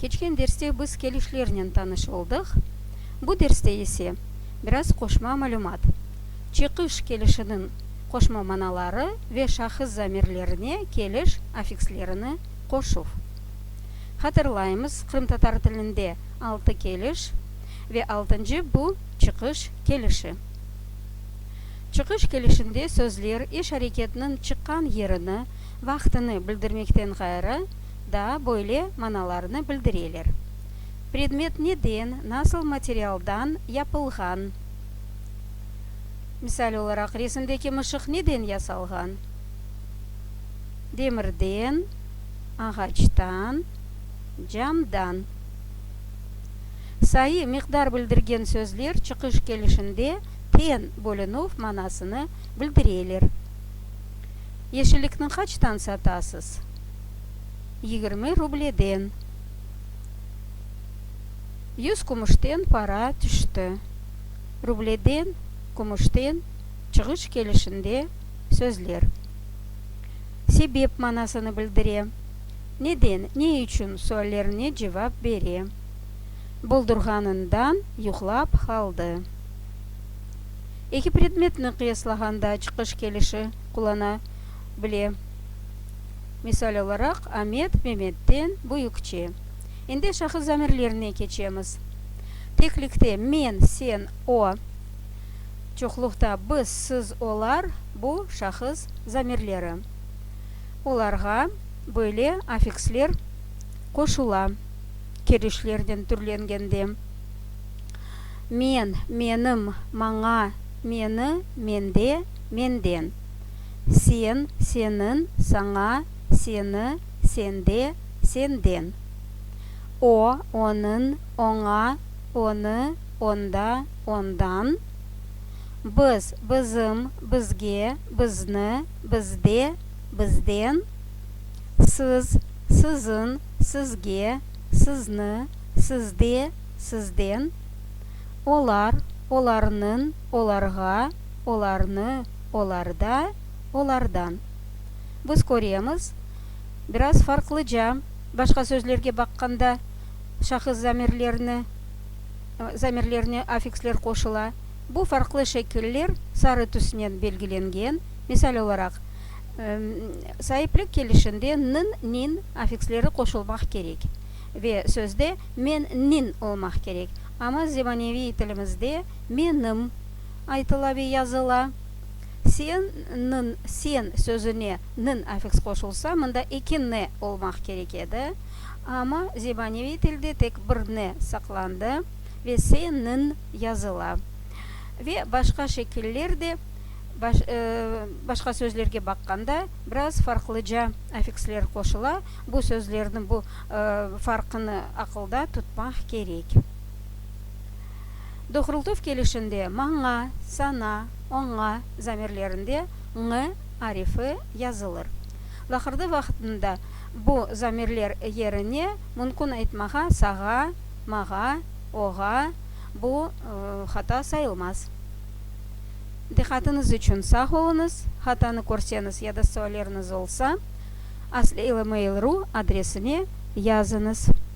Keçken derste biz kelişlernen tanış oldıq, bu derste ise biraz qoşma malümat, çıqış kelişiniñ qoşma manaları ve şahıs zamirlerine keliş afikslerini qoşuv. Hatırlaymız, qırımtatar tilinde altı keliş ve altıncı bu, çıqış kelişi. Çıqış kelişinde sözler iş-areketniñ çıqqan yerini, vaqtını bildirmekten ğayrı daa böyle manalarnı bildireler, predmet neden, nasıl materialdan yapılğan, misal olaraq, resimdeki mışıq neden yasalğan, demirden, ağaçtan, camdan. Sayı, miqdar bildirgen sözler çıqış kelişinde ten, bölünüv, manasını bildireler. Yeşillikni qaçtan satasız? Yigirmi rubleden. Yüz kümüşten para tüşti. Rubleden, kümüşten çığış kelişinde sözler sebep manasını bildire, neden, ne içün suallerine cevap bere. Buldurğanından yuqlap qaldı. eki predmetni qıyaslağanda çıqış kelişi qullana bile. Misal olaraq, Amet, Memetden büyükçe. Endi şahıs zamirlerine keçemiz. Teklikte, men, sen, o. Çoqluqta, biz, siz, olar, bu, şahıs zamirleri. Olarğa böyle affiksler qoşula, kelişlerden türlengende. Men, menim, maña, meni, mende, menden. Sen, senin, saña, seni, sende, senden. O, onıñ, oña, onı, onda, ondan. Biz, bizim, bizge, bizni, bizde, bizden. Siz, siziñ, sizge, sizni, sizde, sizden, olar, olarnıñ, olarğa, olarnı, olarda, olardan. Biz köremiz, biraz farqlıca, başqa sözlerge baqqanda, şahıs zamirlerni, zamirlerine affiksler qoşula. Bu farqlı şekiller sarı tüsnen belgilengen, misal olaraq, saiplik kelişinde nıñ, niñ affiksleri qoşulmaq kerek. Ve sözde men nin olmaq kerek, amma zemaneviy tilimizde me nım aytıla ve yazıla. Sen nın sen sözüne nın afiks qoşulsa, mında eki ne olmaq kerek edi, amma zemaneviy tilde tek bir ne saqlandı ve se nın yazıla. Ve başqa şekiller de baş başqa sözlerge baqqanda biraz farqlıca afiksler qoşula, bu sözlerniñ bu farqını aqılda tutmaq kerek. Doğrultuv kelişinde maña, saña, oña zamirlerinde ñ arifi yazılır. Laqırdı vaqtında bu zamirler yerine mümkün aytmağa sağa, mağa, oğa, bu hata sayılmaz. Diqqatınız içün sağ oluñız. Hatanı körseñiz ya da sualleriniz olsa. Asli ilmail ru adresine yazıñız.